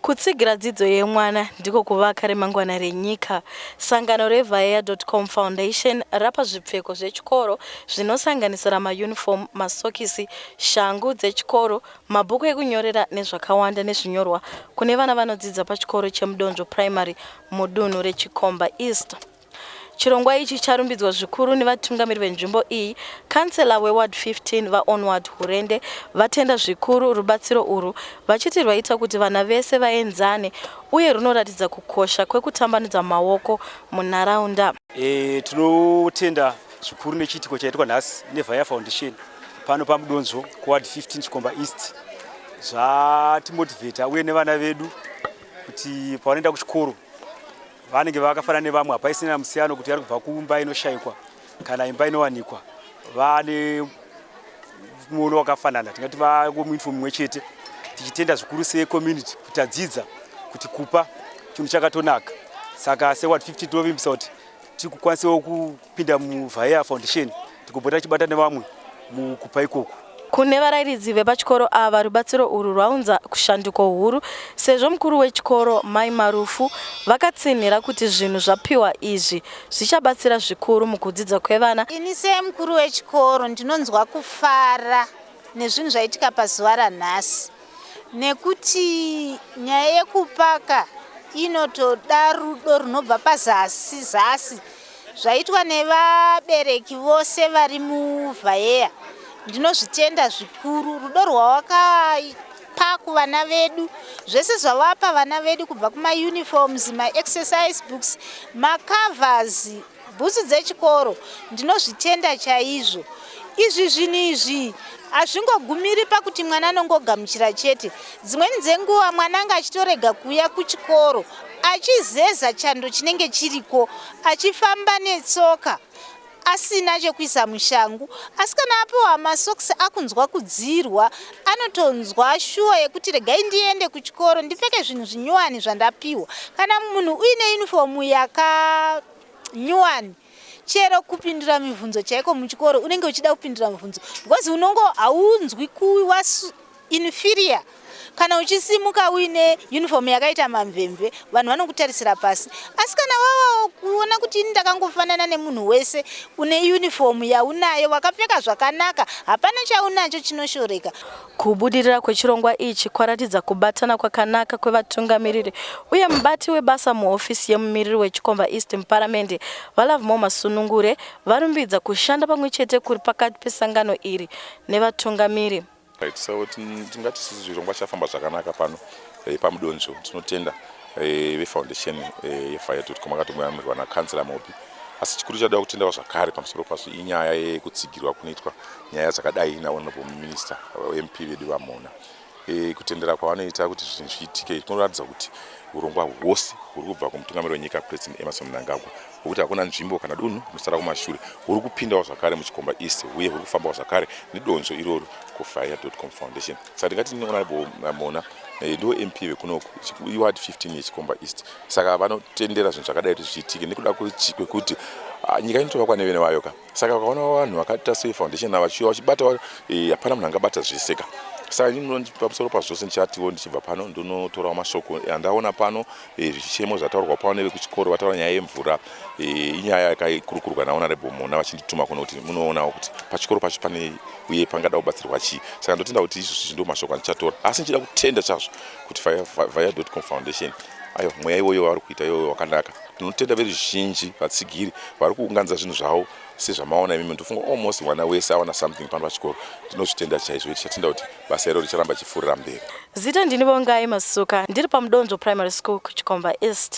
Kutsigira dzidzo yemwana ndiko kuvaka remangwana renyika. Sangano reVaea.com Foundation rapa zvipfeko zvechikoro zvinosanganisira mayunifomu, masokisi, shangu dzechikoro, mabhuku ekunyorera nezvakawanda nezvinyorwa kune vana vanodzidza pachikoro cheMudonzvo Primary mudunhu reChikomba East. Chirongwa ichi charumbidzwa zvikuru nevatungamiri venzvimbo iyi. Kansela weWard 15, VaOnward Hurende, vatenda zvikuru rubatsiro urwu vachiti rwaita kuti vana vese vaenzane uye runoratidza kukosha kwekutambanudza maoko munharaunda. E, tinotenda zvikuru nechiitiko chaitwa nhasi neVaya Foundation pano paMudonzvo kuWard 15 Chikomba East zvatimotivheta uye nevana vedu kuti pavanoenda kuchikoro vanenge vakafanana nevamwe hapaisina musiyano kuti ari kubva kumba inoshayikwa kana imba inowanikwa vane muono wakafanana tingati vakomuinfo mumwe chete tichitenda zvikuru secommunity kuti adzidza kuti kupa chinhu chakatonaka saka seward 50 tinovimbisa kuti tiri kukwanisawo Kupinda muVaea Foundation tikopota tichibata nevamwe mukupa ikoku. Kune varairidzi vepachikoro ava, rubatsiro urwu rwaunza kushanduko huru sezvo mukuru wechikoro, Mai Marufu, vakatsinhira kuti zvinhu zvapiwa izvi zvichabatsira zvikuru mukudzidza kwevana. Ini semukuru wechikoro ndinonzwa kufara nezvinhu zvaitika pazuva ranhasi nekuti nyaya yekupaka inotoda rudo runobva pazasi zasi zvaitwa nevabereki vose vari muvhayeya ndinozvitenda zvikuru rudo rwawakapa kuvana vedu zvese zvawapa vana vedu kubva kumauniforms maexercise books macovers bhutsu dzechikoro ndinozvitenda chaizvo izvi zvinhu izvi hazvingogumiri pakuti mwana anongogamuchira chete dzimweni dzenguva mwana anga achitorega kuuya kuchikoro achizeza chando chinenge chiriko achifamba netsoka asina chekuisa mushangu asi kana apiwa masokisi akunzwa kudzirwa anotonzwa shuwa yekuti regai ndiende kuchikoro ndipfeke zvinhu zvinyuwani zvandapiwa kana munhu uine yunifomu yakanyuwani chero kupindura mibvunzo chaiko muchikoro unenge uchida kupindura mibvunzo because unongo haunzwi kuwa inferior kana uchisimuka uine uniform yakaita mamvemve vanhu vanokutarisira pasi asi kana wava kuona kuti ini ndakangofanana nemunhu wese une uniform yaunayo wakapfeka zvakanaka hapana chaunacho chinoshoreka Kubudirira kwechirongwa ichi kwaratidza kubatana kwakanaka kwevatungamiriri uye mubati webasa muhofisi yemumiriri weChikomba East muparamende, VaLovemore Masunungure, varumbidza kushanda pamwe chete kuri pakati pesangano iri nevatungamiri. Right, so tingati isusu zvirongwa chafamba zvakanaka pano eh, pamudonzvo tinotenda eh, vefoundation eh, yefiretoot koma katomoyamirwa nakansela mobi asi chikuru chada kutendawo zvakare pamusoro pazvo inyaya yekutsigirwa kunoitwa nyaya dzakadai nahonorable minister mp vedu vamona e, kutendera kwavanoita kuti zvinhu zviitike kunoratidza kuti urongwa hwose huri kubva kumutungamiri wenyika president emerson mnangagwa hwekuti hakuna nzvimbo kana dunhu rinosara kumashure huri kupindawo zvakare muchikomba east uye huri kufambawo zvakare nedonzvo iroro kufire com foundation saka ndingati honorable mona eh, ndo mp vekunoku iward 15 yechikomba east saka vanotendera zvinhu zvakadai kuti zviitike nekuda kwekuti ah, nyika inotovakwa nevene vayo ka saka vakaona vanhu vakaita soe foundation ava vachiuya vachibata eh, hapana munhu angabata zvese ka saka ini pamusoro pazvose ndichatiwo ndichibva pano ndonotorawo mashoko andaona pano Eh, zvichemo zvataurwa pano nevekuchikoro vataura nyaya yemvura eh, inyaya yakaikurukurwa naonarable mona vachindituma kuno kuti munoonawo kuti pachikoro pacho pane uye pangada kubatsirwa chii saka ndotenda kuti izvozvi zvindo mashoko andichatora asi ndichida kutenda chazvo kuti via dotcom foundation aiwa mweya iwoyo wavari kuita iwoyo wakanaka tinotenda veruzhinji vatsigiri vari kuunganidza zvinhu zvavo sezvamaona imimi ndofunga almost mwana wese awana something pano pachikoro tinozvitenda chaizvo tichatenda kuti basa iro richaramba chipfuurira mberi zita ndini vongai masuka ndiri pamudonzvo primary school kuchikomba east